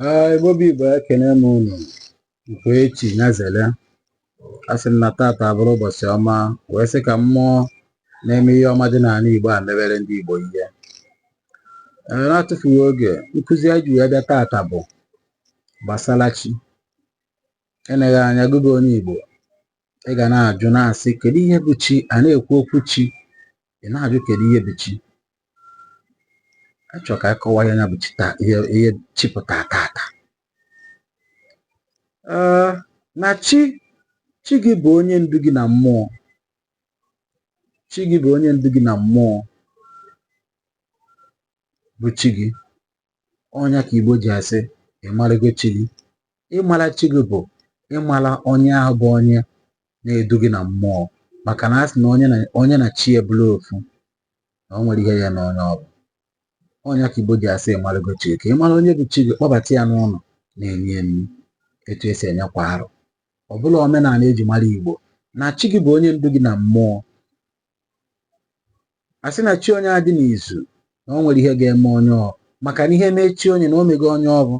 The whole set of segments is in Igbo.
Ee, Igbo bụ Igbo ekene m unu nke echi nyazele asị m na tata abụrụ ụbọchị ọma wee sị ka mmụọ na-eme ihe ọma dị n'anị Igbo a mebere ndị Igbo ihe ee na-atụfughị oge nkụzi anyị ji wee bịa tata bụ gbasara chi eleghị anya gị bụ onye Igbo ị ga na-ajụ na-asị kedu ihe bụ chi a na-ekwu okwu chi ị na-ajụ kedu ihe bụ chi achọ ka anyị kọwaa nya bụ ihe chi pụta tata na chi chi gị bụ onye ndu gị na mmụọ chi gị bụ onye ndu gị na mmụọ bụ chi gị ọ nya ka Igbo ji asị ị marago chi gị ịmara chi gị bụ ịmara onye ahụ bụ onye na-edu gị na mmụọ maka na a sị na onye na chi e bụlụ ofu na o nwerọ ihe ya-eme onye ọ bụ ọ nya ka Igbo ji asị ị marago chi gị ka ị mara onye bụ chi gị kpọbata ya n'ụlọ na-enye e nni etu e si enye kwa arọ ọ bụla omenala e ji mara Igbo na chi gị bụ onye ndu gị na mmụọ a sị na chi onye adị n'izu na o nwerọ ihe ga-eme onye ọ maka na ihe mee chi onye na o mego onye ọ bụ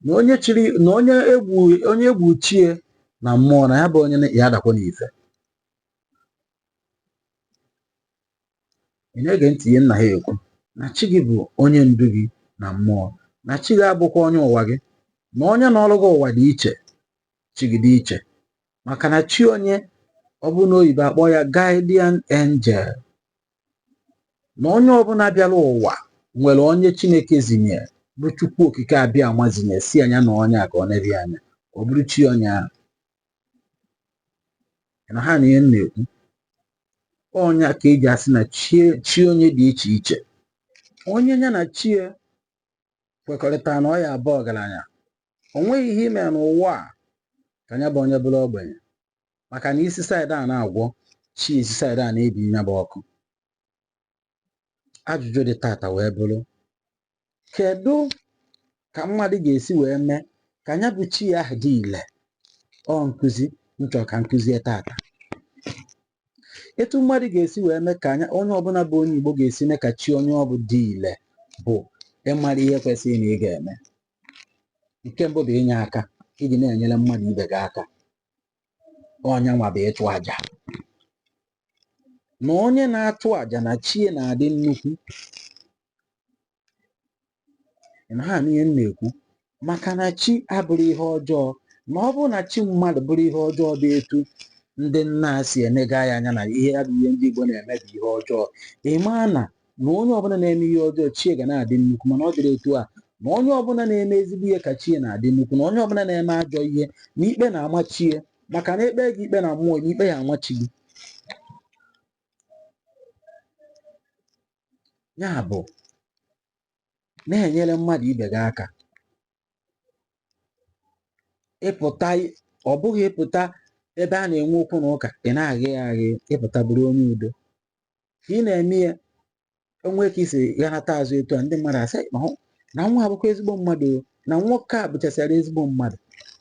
na onye chiri na onye egbu onye egbu chi e na mmụọ na ya bụ onye na- ya adakwa n'ife ị na-ege ntị ihe m na-ekwu na chi gị bụ onye ndu gị na mmụọ na chi gị abụkwa onye ụwa gị na onye nọlụ gị ụwa dị iche chi gị dị iche maka na chi onye ọbụla oyibo akpọ ya guardian angel na onye ọbụla bịara ụwa nwere onye chineke zinye bụ chukwu okike abịama zinye sị ya na onye a ka o nebe anya ọ bụrụ chi onye ahụ ị na-anụ ihe m na-ekwu ọ nya ka e ji asị na chi onye dị iche iche onye ya na chi kwekọrịta na ọ ya-abụ ọgaranya o nweghị ihe ị mee n'ụwa a ka ya bụ onye bụrụ ogbenye maka na ị si side a na-agwọ chi e si side a na-ebi nya bụ ọkụ ajụjụ dị tata wee bụrụ kedu ka mmadụ ga-esi wee mee ka ya bụ chi ahụ dị ile ọ nkụzi m chọ ka m kụzie tata etu mmadụ ga-esi wee mee ka onye ọbụla bụ onye Igbo ga-esi mee ka chi onye ọ bụ dị ile bụ ịmara ihe kwesịrị na ị ga-eme nke mbụ bụ inye aka iji na-enyere mmadụ ibe gị aka ọ nya nwa bụ ịchụ aja na onye na-achụ aja na chi e na-adị nnukwu Ị na-anụ ihe m na-ekwu maka na chi abụrọ ihe ọjọọ ma ọ bụrụ na chi mmadụ bụrụ ihe ọjọọ dị etu ndị nna a si enega ya anya na ihe ya bụ ihe ndị Igbo na-eme bụ ihe ọjọọ ị maa na na onye ọbụla na-eme ihe ọjọọ chi e ga na-adị nnukwu mana ọ dịrọ etu a na onye ọbụla na-eme ezigbo ihe ka chi e na-adị nnukwu na onye ọbụla na-eme ajọ ihe na ikpe na-ama chi e maka na e kpee gị ikpe na mmụọ na ikpe ya-ama chi gị ya bụ na-enyere mmadụ ibe gị aka ịpụta ọ bụghị ịpụta ebe a na-enwe okwu na ụka ị na-aghị ya aghị ịpụta bụrụ onye udo ka ị na-eme ya o nwee ka ị si ghanata azụ etu a ndị mmadụ asị "Ma hụ na nwa a bụkwa ezigbo mmadụ o, na nwoke a bụchasịara ezigbo mmadụ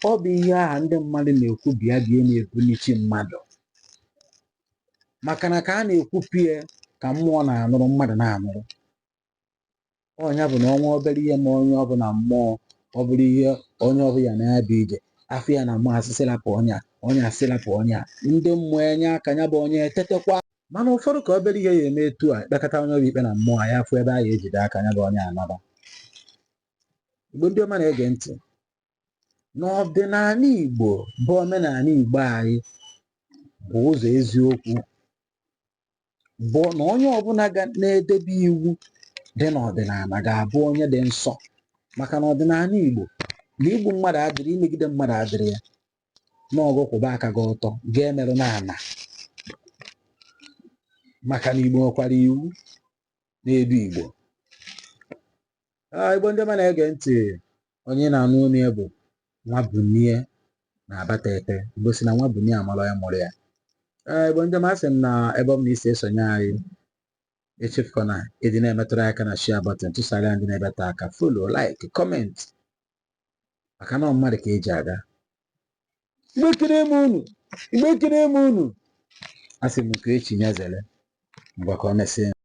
ọ bụ ihe aha ndị mmadụ na-ekwu bịa bịa na-ebuni chi mmadụ maka na ka a na-ekwupụ ya ka mmụọ na-anụrụ mmadụ na-anụrụ ọ nya bụ na o nwee obere ihe mee onye ọ bụ na mmụọ ọ bụrụ ihe onye ọbụla na-abịa ije afụ ya na mmasị sị lapụ onye a onye a sị lapụ onye a ndị mmụọ enye aka ya bụ onye etetekwa mana ụfọdụ ka obere ihe ya eme etu a kpekọta onye ọ bụ ikpe na mmụọ ya afụ ebe a ya ejide aka ya bụ onye anaba Igbo ndị ọma na-ege ntị na ọdịnala Igbo bụ omenala Igbo anyị bụ ụzọ eziokwu bụ na onye ọbụla ga na-edebe iwu dị n'ọdịnala ga-abụ onye dị nsọ maka na ọdịnala Igbo na igbu mmadụ adịrọ imegide mmadụ adịrọ ya na ọọ gị kwụba aka gị ọtọ gị emerụna ala maka na Igbo nwekwara iwu na-edu Igbo Ah, Igbo ndị ọma na-ege ntị onye na-anụ olu ya bụ Nwabunie n'Abatete Igbo sị na nwa bunie a mara onye mụrụ ya Ah, Igbo ndị ọma asị m na ebe ọ bụla ị si esonye anyị echefukwa na ịdị na-emetụrụ aka na share button tụsara ya ndị na-ebeta aka follow like comment maka na ọ mmadụ ka e ji aga Igbo ekele m unu Igbo ekele m unu asị m nke echi nyezere mgbe ka ọ mesịa